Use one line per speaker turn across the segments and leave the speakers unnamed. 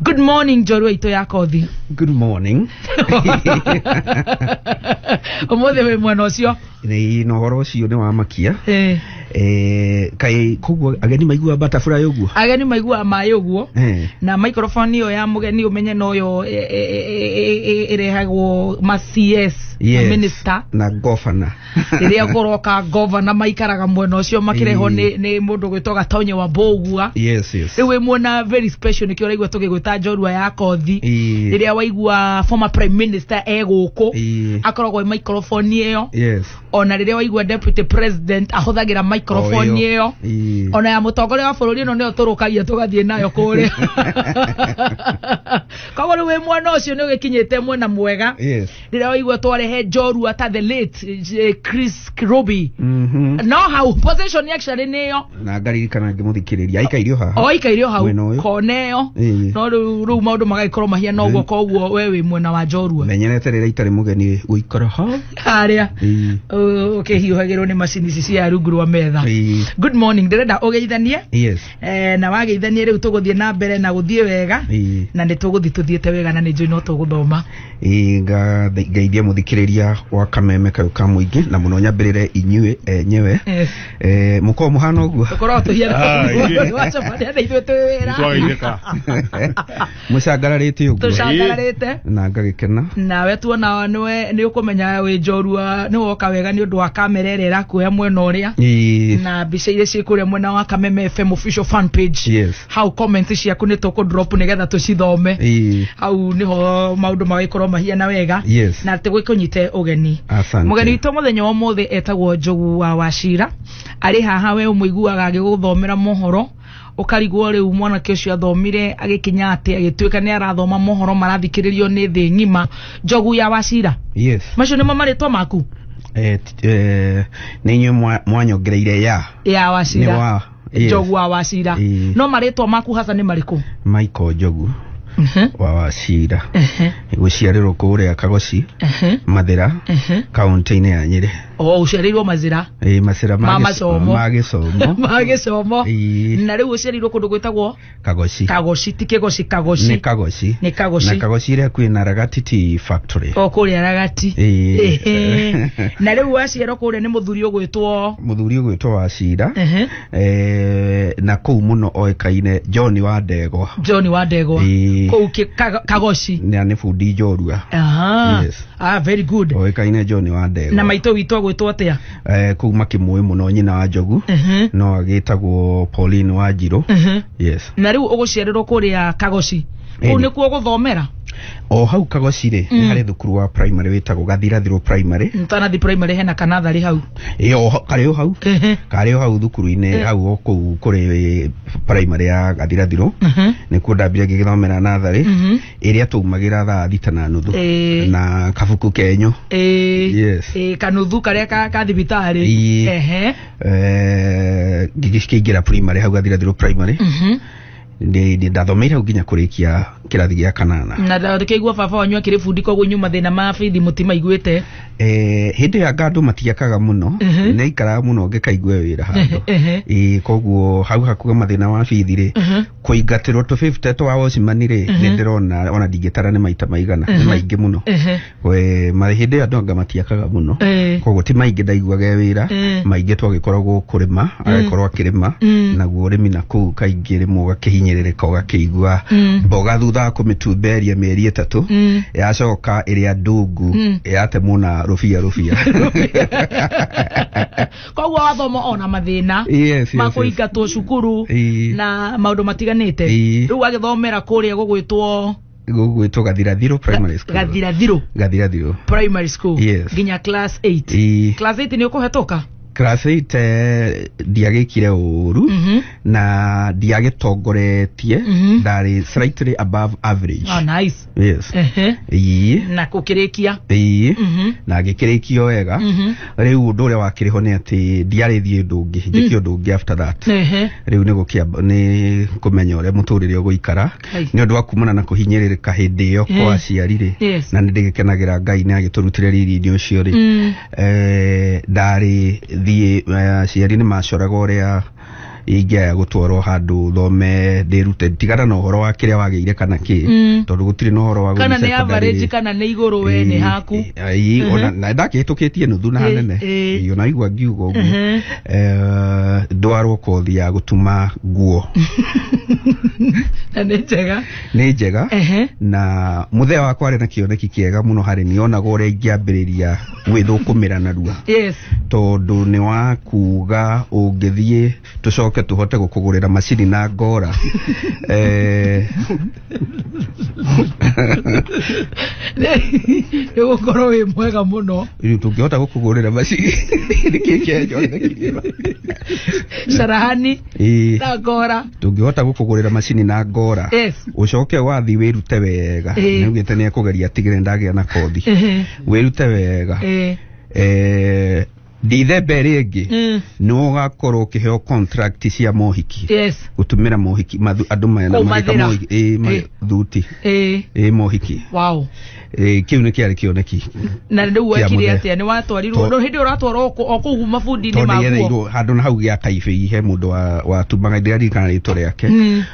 good morning njorua itå ya kothi Good morning. å må thä wä mwena å cio Nĩ na ũhoro ũcio nĩ wa makia. Eh, Eh, kaĩ koguo ageni maigua butterfly ũguo? ageni maiguaga maä å guo Eh. na microphone ĩyo ya må geni å menye no yo ä rehagwo ma cs Yes. minister Na governor. rĩrĩa kũroka ngova na maikaraga mwena ũcio makĩrehwo Ĩĩ. nĩ nĩ mũndũ gwĩtwo gatonye wa mbũgua yes yes rĩu wĩ muona very special nĩkĩo ũraigua tũgĩgwĩta njorua ya kothi Ĩĩ. rĩrĩa waigua former prime minister e gũkũ Ĩĩ. akoragwo e microphone ĩyo yes ona rĩrĩa waigua deputy president ahũthagĩra microphone O ĩyo. ĩyo Ĩĩ. ona ya mũtongoria wa bũrũri ĩno nĩyo tũrũkagia tũgathiĩ nayo kũrĩa koguo rĩu wĩ mwena ũcio nĩ ũgĩkinyĩte mwena mwega yes rĩrĩa waigua twarehe njorua ta the late eh, chris roby Mhm. no hau possession actually nĩyo na ngaririkana ngĩmũthikĩrĩria aikairio haha oikairio hau Mwena ũyũ. kona ĩyo Ĩĩ. no rĩu rĩu maũndũ magagĩkorwo mahiana ũguo koguo we wĩ mwena wa njorua menyerete rĩrĩa itarĩ mũgeni gũikara ha harĩa Ĩĩ. ũkĩhiũhagĩrwo nĩ macini ici cia rungu rwa metha Ĩĩ. good morning ndĩrenda ũgeithanie yes eh, na wageithanie rĩu tũgũthiĩ na mbere na gũthiĩ wega Ĩĩ. na nĩ tũgũthiĩ tũthiĩte wega na nĩ njũĩ no tũgũthoma Ĩĩ, nga- ngeithie mũthikĩrĩria wa kameme kau ka mũingĩ na mũno nyambĩrĩre inyuĩ enyewe Yes. Eh, mũkorwo mũhana ũguo korwo tũhiana Ah, ĩĩ. wacoka nĩ ithuĩ twĩ wĩra Nĩtwageithĩka. mũcangararĩte ũguo tũcangararĩte na ngagĩkena nawe tuona nĩwe nĩ ũkũmenya wĩ njorua nĩ woka wega nĩ ũndũ wa kamera ĩrĩa ĩrakuoya mwena ũrĩa Ĩĩ, na mbica iria ciĩ kũrĩa mwena wa kameme fm official fan page Yes. hau comment ciaku nĩ tũkũ drop nĩgetha tũcithome ĩĩ, hau nĩho maũndũ magĩkorwo mahiana wega Yes. na atĩ gwĩkũnyite ũgeni Asante. mũgeni witũ mũthenya wa ũmũthĩ etagwo njogu wa wacira arĩ haha we ũmũiguaga agĩgũthomera mohoro ukarigwo riu mwanake ucio athomire agikinya ati agituika ni arathoma mohoro marathikiririo ni thi ngima njogu ya wacira yes macio nimo maritwa maku eh, t- eh, nĩ inyuĩ mwa- mwanyongereire ya ya nĩ wacira wa yes. njogu wa wacira Ĩĩ. no maritwa maku hasa ni mariku maiko njogu Mhm, wa wacira mhm, gũciarĩrwo kũrĩa kagoci mhm, mathĩra mhm. kaunti-inĩ ya nyĩrĩ o uciarirwo mazira Eh, macira ma ma gĩco- macomo ma gĩcomo ma gĩcomo Ĩĩ. na rĩu ũciarirwo kũndũ gwĩtagwo kagoci kagoci ti kĩgoci nĩ kagoci kagoci Nĩ Kagoci. na kagoci ĩrĩa kwĩ na ragatiti factory o kũrĩa ragati Ĩĩ. Ĩhĩ. na rĩu waciarwo kũrĩa nĩ mũthuri ũgwĩtwo mũthuri ũgwĩtwo wa cira Ĩhĩ. eh, na kũu mũno oĩkaine john wa ndegwa john wa ndegwa Ĩĩ. kũu kĩ- Kago- kagoci na nĩ bundi njorua Aha. Yes. ah very good oĩkaine john wa ndegwa na maitũ witũ agwĩtwo atia eh, kuu makĩmũĩ mũno nyina wa njogu Mhm. no agĩtagwo pauline wa njirũ Mhm. yes na rĩu ũgũciarĩrwo kũrĩa kagoci kũu Ĩni. nĩkuo ũgũthomera o hau kagoci rĩ nĩ harĩ thukuru wa primary wĩtagwo gathirathirũ primary tanathi primary hena kanatharĩ hau ĩ o hau- karĩ o hau Ehe. karĩ o hau thukuru-inĩ hau o kũu kũrĩ primary ya gathirathirũ Mhm. nĩkuo ndambire ngĩgĩthomera natharĩ Mhm. ĩrĩa twaumagĩra thaa thita na nuthu Ĩĩ. na kabuku kenyu Ĩĩ, Yes. ĩĩ, kanuthu karĩa ka ka thibitarĩ Ĩĩ. Ehe. eh, ngĩkĩingĩra primary hau gathirathirwo primary Mhm. Ndĩ- ndĩ- ndathomeire hau nginya kũrĩkia kĩrathi gĩa kanana na ndakĩigua baba wanyu akĩrĩ bundi koguo nyuma thĩna ma bithi mũtimaiguĩte Eh, hĩndĩ ya ngandũ matiakaga mũno Mhm. naikaraga mũno ngĩkaigua wĩra handũ Ehe. Ĩĩ, koguo hau hakuga mathĩna wa bithi rĩ Mhm. kũingatĩrwo tũbĩbute twa Osimani rĩ nĩ ndĩrona ona ndingĩtara nĩ maita maigana nĩ maingĩ mũno Ehe. we ma- hĩndĩ ĩyo andũ anga matiakaga mũno Eh. koguo ti maingĩ ndaiguaga e wĩra Eh. maingĩ twagĩkoragwo kũrĩma agĩkorwo akĩrĩma Mm. naguo ũrĩmi na kũu kaingĩ rĩmwe ũgakĩhinyĩrĩrĩka ũgakĩigua Mm. mboga thutha wa kũmĩtumberia mĩeri ĩtatũ Mm. yacoka ĩrĩa ndungu Mm. yatemwo na rũbia rũbia koguo wathoma ona mathĩna Yes, yes, ma yes. kũingatwo cukuru Ii. na maũndũ matiganĩte Ii. rĩu agĩthomera kũrĩa gũgwĩtwo gũgwĩtwo gathirathiro primary school gathirathirũ gathirathiro primary school Yes. nginya class 8 Ii. class 8 nĩ ũkũhetũka class 8 eh, ndiagĩkire ũru Mhm. na ndiagĩtongoretie Mhm. ndarĩ slightly above average oh, nice yes Ehe. ii na kukirikia ii Mhm. na ngĩkĩrĩkio wega Mhm. rĩu ũndũ ũrĩa wakĩrĩ ho nĩ atĩ ndiarĩ thiĩ ũndũ ũngĩ njĩke ũndũ ũngĩ after that Ehe. rĩu nĩ gũkĩamba nĩ kũmenya ũrĩa mũtũrĩre ũgũikara Hai. nĩ ũndũ wa kumana na kũhinyĩrĩrĩka hĩndĩ ĩyo Eh. kwa aciari rĩ Yes. na nĩ ndĩgĩkenagĩra ngai nĩ agĩtũrutire riri-inĩ ũcio rĩ Mm. eh, ndarĩ thiĩ eh, aciari nĩ macoraga ũrĩa ingĩaya gũtwarwo handũ thome ndĩrute tigana na ũhoro wa kĩrĩa wagĩire kana kĩ Mm. tondũ gũtirĩ na ũhoro wa kana gũthiĩ nĩ secondary. average kana nĩ igũrũ we nĩ haku Eh, ii, Mhm. ona- na ndakĩhĩtũkĩtie nuthu na Eh, hanene eh. Ii, ona igua ngiuga ũguo Mhm. Eh, ndwarwo kothi ya gũtuma nguo na nĩ njega nĩ njega Ehe. na mũthea wakwa arĩ na kĩoneki kĩega mũno harĩ niĩ onaga ũrĩa ingĩambĩrĩria gwĩthũkũmĩra narua yes tondũ nĩ wa kuga ũngĩthiĩ tũcoke tũhote gũkũgũrĩra macini na ngora eh, nĩ gũkorwo wĩ mwega mũno rĩu tũngĩhota gũkũgũrĩra macini nĩkĩ kĩenyo carahani Ĩĩ. na ngora tũngĩhota gũkũgũrĩra macini na ngora yes ũcoke wathi wĩrute wega Ĩĩ. nĩugĩte nĩ ekũgeria tigĩre ndagĩa na kothi Ehe. wĩrute wega Eh. eh, ndithemba ĩrĩ ĩngĩ Mm. nĩ ũgakorwo ũkĩheo contract cia mohiki Yes. gũtũmĩra mohiki mathu- andũ maya na magĩka Kũmathĩra. mohiki ĩ, ma- Eh. thuti Eh. ĩ mohiki Wow. Ĩ, kĩu nĩ kĩarĩ kĩoneki na rä u Kĩa wekire mũthee. atä a nä watwarirwo To- no hä ndä ä ratwarwo o kå gu mabundi-inä tondå maguo nĩgereirwo handå na hau gä a kaibä he må ndå watumaga ndä rarikana rä two rä ake Mm.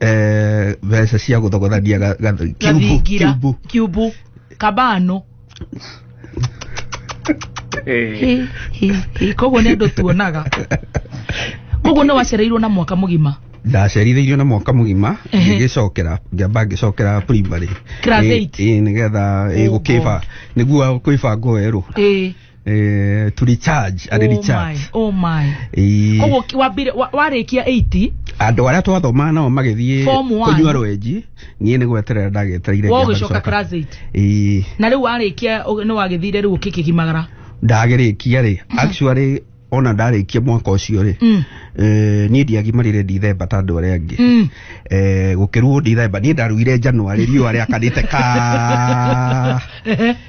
eh, mbeca cia gũthogothania ga- ga- kiubu- gathingira kiubu. kiubu kabano Hĩ, hĩ, hĩ. koguo nĩ andũ tuonaga koguo nĩ wacereirwo na mwaka mũgima ndacerithĩirio na mwaka mũgima Ehe. ngĩgĩcokera ngĩamba ngĩcokera primary Class Ĩ- eight. ĩ, nĩgetha ĩ, Oh, gũkĩba nĩguo kwĩbanga werũ ĩĩ eh, to recharge a recharge oh my Eh, koguo ki- wambire wa- warĩkia 80 andå arä a twathomaa nao magäthiä Form one. kå nyua rwenji niä nä gweterera ndagetereire wa ngĩamba ũgĩcoka gũcoka. class 8 Ĩĩ, na rĩu warĩkia ũ- nĩ wagĩthire rĩu ũkĩkĩgimagara ndagĩrĩkia rĩ actually ona ndarĩkia mwaka ũcio rĩ Mm. eh, niĩ ndiagimarire ndithemba ta andå arĩa angĩ Mm. Eh, gũkĩruo ndithemba niĩ ndaruire njanuarĩ riũa rĩakanĩte ka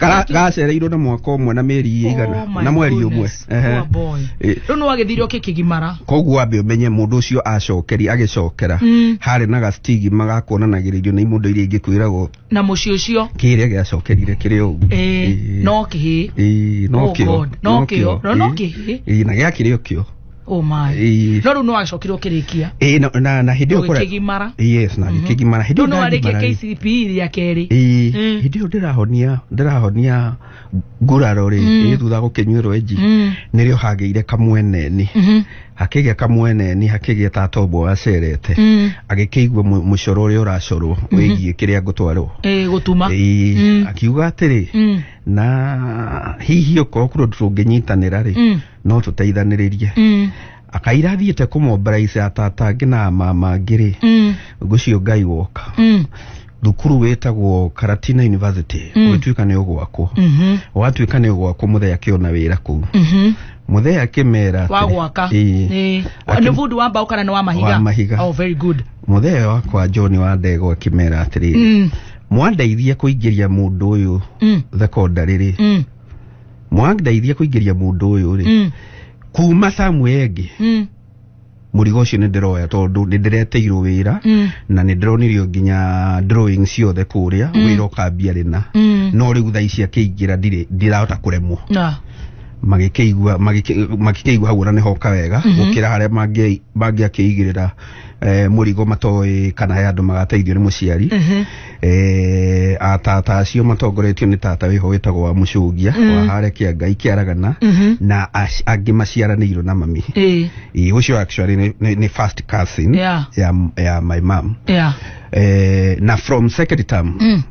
Gara- gacereirwo na mwaka ũmwe na mĩeri Oh igana my na mweri ũmwe goodness, Ehe. poor boy. Eh. rĩu nĩ wagĩthire ũke kĩgimara koguo ambe ũmenye mũndũ ũcio acokeri agĩcokera Mm. harĩ na gastigima gakuonanagĩrĩrio nĩ imũndũ iria ingĩ kwĩragwo na mũciĩ ũcio kĩrĩa gĩacokerire kĩrĩ ũguo Eh, Ĩĩ. no kĩhĩ Ĩĩ, no Oh kĩo God, no kĩo, no, no kĩhĩ. Ĩĩ, na gĩakĩrĩ o kĩo oh my Ĩĩ. no rĩu no agĩcokire ũkĩrĩkia Ĩĩ, na- na na hĩndĩ ĩyo kũrĩa- ũgĩkĩgimara yes na ngĩkĩgimara hĩndĩ no ĩyo no arĩkia ndagimara-rĩ, KCPE rĩa kerĩ ĩĩ, Mm. hĩndĩ ĩyo ndĩrahonia ndĩrahonia nguraro rĩ Mm. ĩĩ, thutha wa gũkĩnyuĩrwo enji Mm. nĩrĩo hagĩire kamweneni Mhm. hakĩgĩa kamweneni hakĩgĩa tatombo wacerete Mm. agĩkĩigua mu- mũcoro ũrĩa ũracorwo wĩgiĩ kĩrĩa ngũtwarwo Eh, gũtuma Ĩĩ, Mm. akiuga atĩrĩ Mm. na hihi okorwo kũrũndũ tũngĩnyitanĩra rĩ Mm. no tũteithanĩrĩrie Mm. akaira athiĩte kũmombaraica atata angĩ na mama angĩ rĩ Mm. ngũcio ngai woka Mm. thukuru wĩtagwo karatina university Mm. ũgĩtuĩka nĩ ũgwakwo Mhm. watuĩka nĩ ũgwakwo mũthee akĩona wĩra kũu Mhm. mũthee akĩmera wa gwaka Ĩĩ. Ĩĩ. Akĩ- nĩ bundi wa mbaũ kana nĩ wa mahiga Wa mahiga. oh, very good mũthee wakwa john wa ndego akĩmera atĩrĩrĩ Mm. mwandeithia kũingĩria mũndũ ũyũ Mm. thekondarĩ rĩ Mm. mwandeithia kũingĩria mũndũ ũyũ rĩ Mm. kuma Samuel ĩngĩ Mm. mũrigo ũcio nĩ ndĩroya tondũ nĩ ndĩreteirwo wĩra Mm. na nĩ ndĩronirio nginya drawing ciothe kũrĩa Mm. wĩra ũkambia rĩna Mm. no rĩu thaa ici akĩingĩra ndirĩ ndirahota kũremwo Na. magĩkĩigua magĩkĩ- magĩkĩigua hau ona nĩ hoka wega Mhm. gũkĩra harĩa mangĩ- mangĩakĩigĩrĩra eh, mũrigo matoĩ kana he andũ magateithio nĩ mũciari Mhm. eh, atata acio matongoretio nĩ tata wĩho wĩtagwo wa mũcũngia Mm. wa hare kĩa ngai kĩaragana Mhm. na ac- angĩ maciaranĩirwo na mami Eh, Ĩ, ũcio actually nĩ- nĩ nĩ first cousin Yeah. ya, ya my mom yeah. eh, na from second term Mm.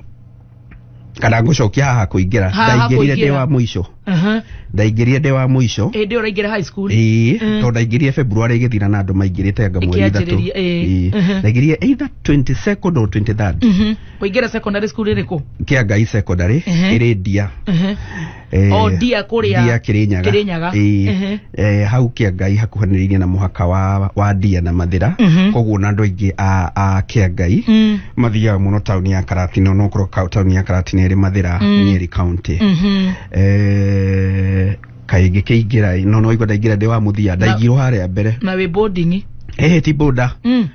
kana ngũcokia haha kũingĩra Haha ndaingĩrire ndĩ kũingĩra. wa mũico aha ndaingĩrire ndĩ wa mũico ĩndĩ ũraingĩra high school ĩĩ Mm. tondũ ndaingĩrire february ĩgĩthira na andũ maingĩrĩte anga mweri ithatũ Ĩkĩanjĩrĩria, ĩĩ. Ĩĩ. Mhm. ndaingĩrire either 22nd or 23rd Mhm. kũingĩra secondary school ĩrĩkũ kĩa ngai secondary Mhm. ĩrĩ ndia Mhm. Eh, O Ndia kũrĩa Ndia Kĩrĩnyaga. Kĩrĩnyaga. Ĩĩ. Mhm. eh, hau kĩangai hakuhanĩrĩirie na mũhaka wa, wa ndia na mathĩra Mhm. koguo na andũ aingĩ a, a kĩangai Mm. mathiaga mũno taũni ya karatina onokorwo ka- taũni ya karatina ĩrĩ mathĩra Mm. nyeri kaunti Mhm. Eh, kaĩ ngĩkĩingĩra no no igua ndaingĩra ndĩ wa mũthia ndaingirwo harĩa mbere na wĩ boarding eh ti boda Mm.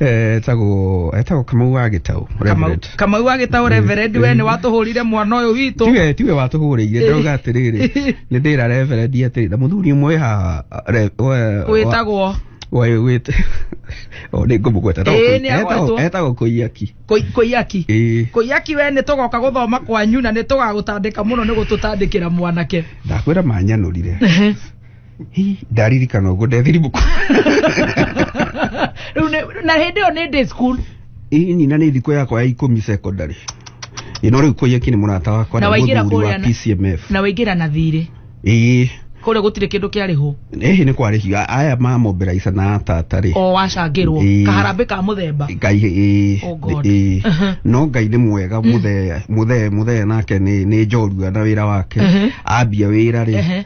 etagwo etagwo kamau wa gĩtaũ Kamau- Reverend. kamau wa gĩtaũ reverend we nĩ watũhũrire mwana ũyũ witũ tiwe tiwe watũhũrĩire ndauga atĩrĩrĩ nĩ ndĩra reverend atĩrĩ na mũthuri ũmwe haha re- we- wĩtagwo we- wĩt- o nĩ ngũmũgweta Etagwo Ĩĩ, Kũi- nĩ agwetwo. etagwo- etagwo kũiyaki Kũi- kũiyaki Ĩĩ. kũiyaki we nĩ tũgoka gũthoma kwanyu na nĩ tũgagũtandĩka mũno nĩ gũtũtandĩkĩra mwanake ndakwĩra manyanũrire Hi, ndaririkana ũguo ndethiribuku Rĩu nĩ- na hĩndĩ ĩyo nĩ day school ĩ nyina nĩ thikũ yakwa ya ikũmi secondary ĩ no rĩu kũiyeki nĩ mũrata wakwa Na nĩ waingĩra mũthuri wa kũrĩa na- PCMF na waingĩra na thirĩ ĩ kũrĩa gũtirĩ kĩndũ kĩarĩho ĩhĩ nĩ kwarĩhio aya mamombera ica na tata rĩ o wacangĩrwo Ĩĩ. kaharambĩ ka mũthemba ngai ĩ Oh God. ĩ Uh-huh. no ngai nĩ mwega mũthee mũthee mũthee nake nĩ nĩ njorua na wĩra wake Uh-huh. ambia wĩra rĩ Uh-huh.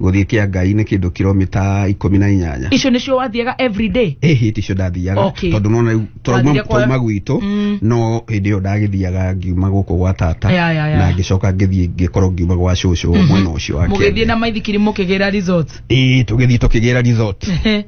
gũthiĩ kĩa ngai nĩ kĩndũ kilomita ikũmi na inyanya icio nĩcio wathiaga everyday ĩ hĩti icio ndathiaga Okay. tondũ nona rĩu twauma Wathire kwa- twauma gwitũ Mm. no hĩndĩ ĩyo ndagĩthiaga ngiuma gũkũ gwa tata Ya, ya, ya. na ngĩcoka ngĩthiĩ ngĩkorwo ngiuma gwa cũcũ mwena ũcio wa mũgĩthiĩ Kenya. na maithikiri mũkĩgĩra resort ĩĩ tũgĩthiĩ tũkĩgĩra resort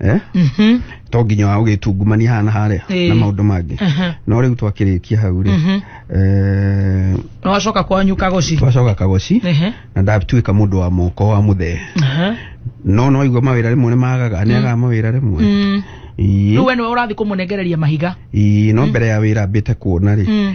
eh? Mhm. to nginya wa ũgĩtungumania hana harĩa Ĩĩ. na maũndũ mangĩ Aha. no rĩu twakĩrĩkia hau rĩ Mhm. eh, No wacoka kwanyu kagoci. twacoka kagoci Ehe. na ndatuĩka mũndũ wa moko wa mũthee Aha. no no igua mawĩra rĩmwe nĩ magaga nĩ agaga mawĩra rĩmwe Mm. Ii, Rĩu we nĩwe ũrathiĩ kũmũnengereria mahiga. ii, no mbere ya wĩra mbĩte kuona rĩ Mm.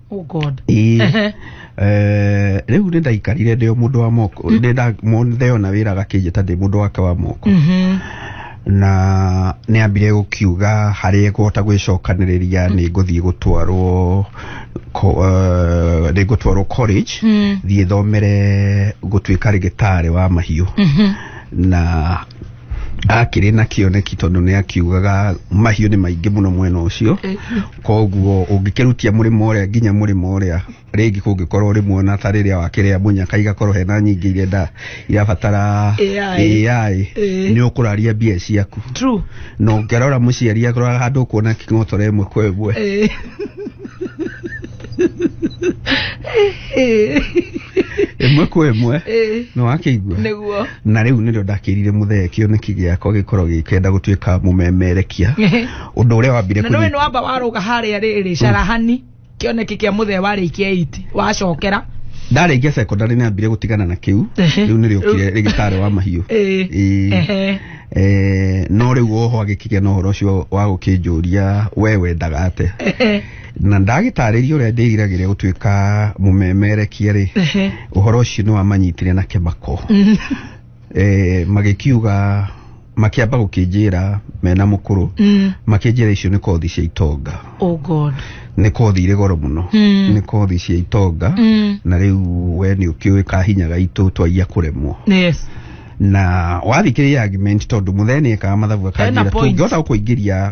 oh god Ĩĩ. Ehe. Eh, rĩu nĩ ndaikarire ndĩo mũndũ wa moko nĩ nda- mo- ndeyona wĩra gakĩnjĩta ndĩ mũndũ wake wa moko Mhm. na nĩ ambire gũkiuga harĩa ngũhota gwĩcokanĩrĩria nĩ ngũthiĩ gũtwarwo ko- eh, nĩ ngũtwarwo college Mm. thiĩ thomere gũtuĩka rĩgĩtarĩ wa mahiũ Mhm. na akĩrĩ na kĩoneki tondũ nĩ akiugaga mahiũ nĩ maingĩ mũno mwena ũcio koguo ũngĩkĩrutia mũrĩmo ũrĩa nginya mũrĩmo ũrĩa rĩngĩ kũngĩkorwo rĩmwe na ta rĩrĩa wakĩrĩa mũnyaka igakorwo hena nyingĩ iria nda irabatara AI. AI Eh. nĩ ũkũraria mbia ciaku True. na ũngĩrora mũciari akoraga handũ ũkuona king'otore ĩmwe kwa ĩmwe Eh. ĩmwe kwa ĩmwe Ĩĩ. nĩ wakĩigua nĩguo na rĩu nĩrĩo ndakĩrire mũthee kĩoneki gĩakwa gĩkorwo gĩkenda gũtuĩka mũmemerekia ũndũ ũrĩa wambire na nĩ kũnyita- wamba warũga harĩa rĩrĩ carahani kĩoneki kĩa mũthee warĩikia iti wacokera ndarĩkia secondary nĩ ambire gũtigana na kĩu Ehe. rĩu nĩrĩokire rĩgĩtarĩ wa mahiũ Ĩĩ. Ĩĩ. Ehe. Eh, no rĩu oho agĩkĩgĩa na ũhoro ũcio wa gũkĩnjũria we wendaga ate na ndagĩtarĩria ũrĩa ndĩriragĩria gũtuĩka mũmemerekia rĩ Ehe. ũhoro ũcio nĩ wamanyitire na kĩmako Mm. e, magĩkiuga makĩamba gũkĩnjĩra mena mũkũrũ Mm. makĩnjĩra icio nĩ kothi cia itonga Oh God. nĩ kothi irĩ goro mũno Mm. nĩ kothi cia itonga Mm. na rĩu we nĩ ũkĩũĩ ka hinya gaitũ twaiya kũremwo Yes. na wathikĩrĩria argument tondũ mũthee nĩ ekaga mathabu Hena akanjĩra point. tũngĩhota gũkũingĩria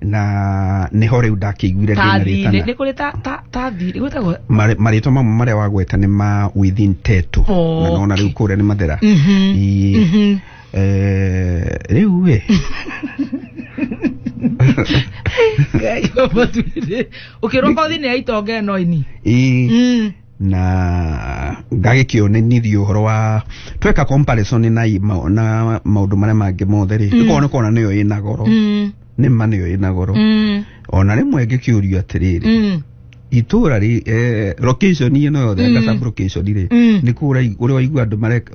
na niho riu ndakĩiguire ndĩna tathi rĩtana nä kå rä ta ta- tathi nä gwä tagwo Marĩ- marĩtwa mamwe marĩa wagweta nĩ ma within teto na nona rĩu kũrĩa nĩ mathera Ii, eh, rĩu ĩ å kä rwo kothi nä ya itonga ä no ini ii, na ngagĩkĩonenithia ũhoro wa tweka comparison na ima- na maũndũ marĩa mangĩ mothe rĩ Mm. ĩkorwo nĩ kona nĩyo ĩna goro Mm, nĩ ma nĩyo ĩna goro mm, ona rĩmwe ngĩkĩũrio atĩrĩrĩ mm, itũra rĩ eh, location ĩno yothe Mm. anga sub location rĩ Mm. nĩ kũra ũrĩa waigua andũ mareka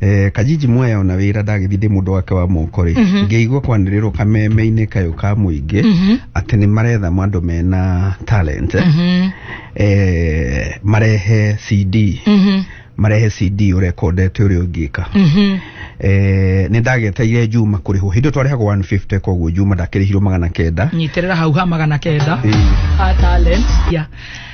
Eh, kajiji mwaya ona wira ndagĩthi ndĩ mũndũ wake wa moko rĩ Mhm. ngĩigua kwanĩrĩrwo kameme-inĩ kayũ ka mũingĩ Mhm. atĩ nĩ maretha andũ mena talent Mhm. eh, marehe cd Mhm. marehe cd ũrekondete ũrĩa ũngĩka Mhm. eh, nĩ ndageteire juma kũrĩhwo hĩndĩ ĩyo twarĩhagwo 150 koguo juma ndakĩrĩhirwo magana kenda nyitĩrĩra hau ha magana kenda Eh, a talent ya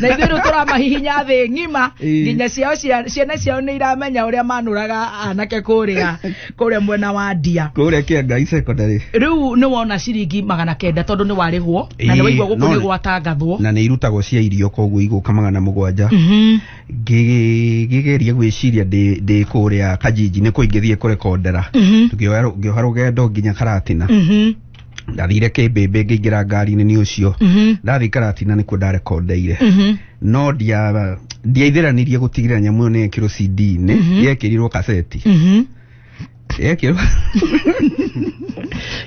na ithuĩ rĩu tũramahihinya thĩ ng'ima Ĩĩ. nginya ciao cia- ciana ciao nĩ iramenya ũrĩa manũraga anake kũrĩa kũrĩa mwena wa ndia kũrĩa kĩa ngai secondary rĩu nĩ wona ciringi magana kenda tondũ nĩ warĩhwo na nĩ Ĩĩ, waigua gũkũ no- nĩ gwatangathwo na nĩ irutagwo cia irio koguo igũka magana mũgwanja Mhm. Ngĩ- ngĩgeria gwĩciria ndĩ ndĩ kũrĩa kajiji nĩ kũingĩthiĩ kũrekondera Mhm. ngĩoha rũ- ngĩoha rũgendo nginya karatina Mhm. ndathire kĩmbĩmbĩ ngĩingĩra ngari-inĩ nĩ ũcio Mhm. ndathiĩ karatina nĩkuo ndarekondeire Mhm. no ndia- ndiaithĩranirie gũtigĩrĩra nyamũ ĩyo nĩ yekĩrwo CD-inĩ Mhm. yekĩrirwo kaseti Mhm. yekĩrwo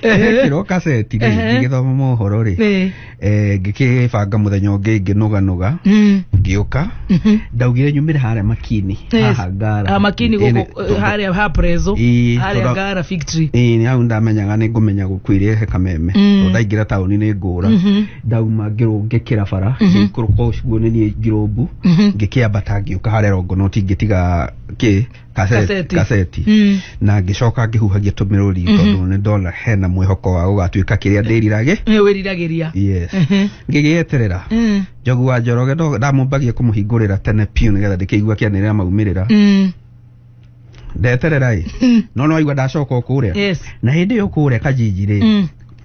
Ehe. yekĩrwo kaseti rĩ Ehe. ngĩgĩthoma mohoro rĩ Ĩĩ. eh, ngĩkĩbanga mũthenya ũngĩ ngĩnũganũga Mm. ngĩũka Mhm. ndaugire nyumĩre harĩa makini Yes. haha ngara Ah, makini Ĩĩ, nĩ- gũkũ harĩa ha prezo Ĩĩ, harĩa tondũ- ngara victory Ĩĩ, nĩ hau ndamenyaga nĩ ngũmenya gũkuire he kameme Mm. tondũ ndaingĩra taũni nĩ ngũra Mhm. ndauma ngĩrũ- ngĩkĩra bara Mhm. ngĩikũrũka ũcuo nĩ niĩ ngirũmbu Mhm. ngĩkĩambata ngĩũka harĩa rongonoti ngĩtiga kĩ Kaseti. kaseti Mm. na ngĩcoka ngĩhuhagia tũmĩrũri tondũ nĩ ndona hena mwĩhoko wa gũgatuĩka kĩrĩa ndĩrirage Nĩ wĩriragĩria yes Mhm. ngĩgĩeterera Mm. njogu wa njoroge ndo- ndamũmbagia kũmũhingũrĩra tene piũ nĩgetha ndĩkĩigua kĩanĩrĩra maumĩrĩra Mm. ndeterera ĩ no no aigua ndacoka kũrĩa yes na hĩndĩ ĩyo kũrĩa kajinjirĩ Mm.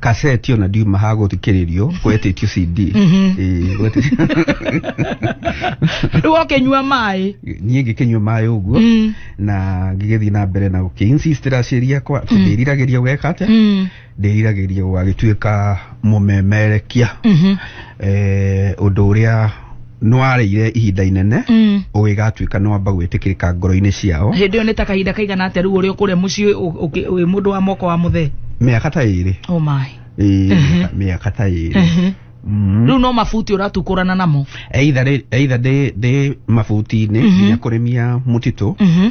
kaseti ona ndiuma ha gũthikĩrĩrio gwetĩtio cd Ĩĩ, gwetĩtio- rĩu okenyua maĩ niĩ ngĩkĩnyua maĩ ũguo Mm. na ngĩgĩthiĩ na mbere na gũkĩinsistĩra ciĩria kwa ndĩriragĩria gweka atĩa Mm. ndĩriragĩria gwagĩtuĩka mũmemerekia Mhm. eh, ũndũ ũrĩa nĩwarĩire ihinda inene Mm. ũgĩgatuĩka nĩwamba gwĩtĩkĩrĩka ngoro-inĩ ciao hĩndĩ ĩyo nĩ ta kahinda kaigana atĩa rĩu ũrĩ kũrĩa mũciĩ ũ- ũkĩ- wĩ mũndũ wa moko wa mũthee mĩaka ta ĩrĩ oh my Ĩĩ, mĩaka- mĩaka ta ĩrĩ Mhm. Mm. rĩu no mabuti ũratukũrana namo either rĩ- either ndĩ ndĩ mabuti-inĩ Mhm. nginya kũrĩmia mũtitũ Mhm.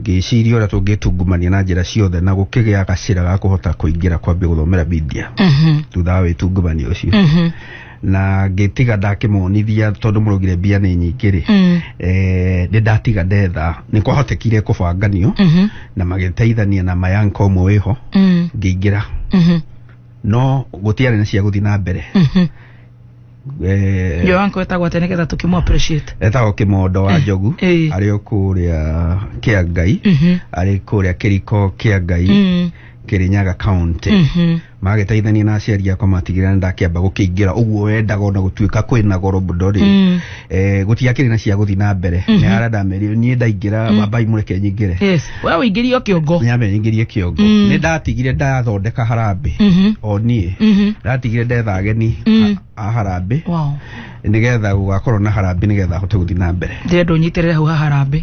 ngĩciria ũrĩa tũngĩtungumania na njĩra ciothe na gũkĩgĩa gacĩra ga kũhota kũingĩra kwambia gũthomera Biblia Mhm. thutha wa wĩtungumania ũcio Mhm. na ngĩtiga ndakĩmonithia tondũ mũrugire mbia nĩ nyingĩ rĩ Mm. eh, nĩ ndatiga ndetha nĩ kwahotekire kũbanganio Mhm. na magĩteithania na mayanka ũmwe wĩho Mm. ngĩingĩra Mhm. no gũtiarĩ na cia gũthiĩ na mbere Mhm. eh, Yo wanko etagwa tene getha tukimu appreciate. etagwo kimondo wa njogu Eh. arĩ o kũrĩa kĩa ngai Mhm. arĩ kũrĩa kĩriko kĩa ngai Mm. kĩrĩnyaga kaunti Mhm. magĩteithania na aciari akwa matigĩrĩra nĩ ndakĩamba gũkĩingĩra ũguo wendaga ona gũtuĩka kwĩna goro mũno rĩ Mm. eh, gũtiakĩrĩ na cia gũthiĩ na mbere nĩ arenda merire niĩ ndaingĩra bambai mũreke nyingĩre Yes. we ũingĩrio kĩongo nyambe nyingĩrie kĩongo Mm. nĩ ndatigire ndathondeka harambĩ Mhm. o niĩ Mhm. ndatigire ndetha ageni Mm. a- a harambĩ wow nĩgetha gũgakorwo na harambĩ nĩgetha hote gũthiĩ na mbere ndĩrenda ũnyitĩrĩre hau haharambĩ